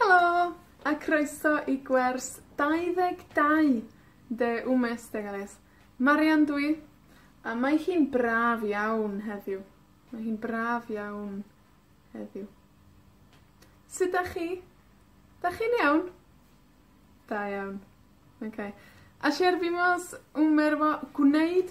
Helo, a croeso i gwers 22 de Un Mes de Gales. Marian dw i, a mae hi'n braf iawn heddiw. Mae hi'n braf iawn heddiw. Sud 'dach chi? 'Dach chi'n iawn? Da iawn. Oce. Ayer vimos un merw gwneud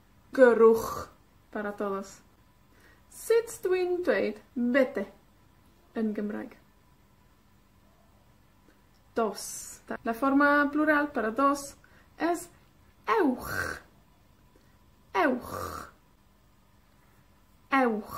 Gyrrwch, para todos. Sut dw i'n dweud vete yn Gymraeg? Dos. La forma plural para dos es ewch. Ewch. Ewch.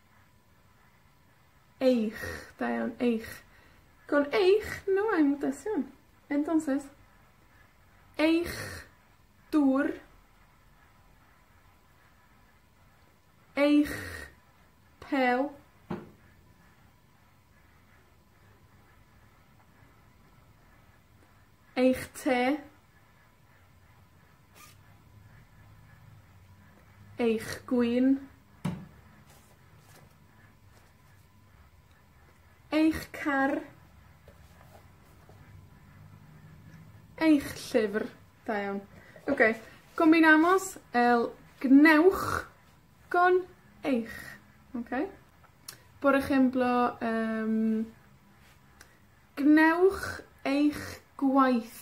Eich. Da iawn. Eich. Gwn eich, no I'm deaf iawn. Entonces, eich dwr, eich pêl, eich te, Eich gwin. Eich car. Eich llyfr. Da iawn. Oce, go myn' amos el gwnewch gon eich. Oce? Por ejemplo yym, gwnewch eich gwaith.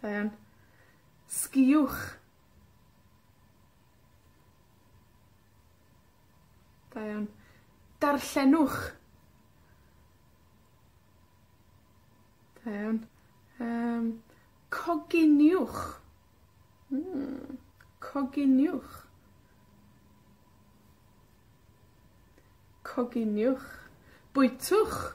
Da iawn. Sgïwch. Da iawn. Darllenwch. Da iawn. Yym, coginiwch. Hmm, coginiwch. Coginiwch. Bwytwch.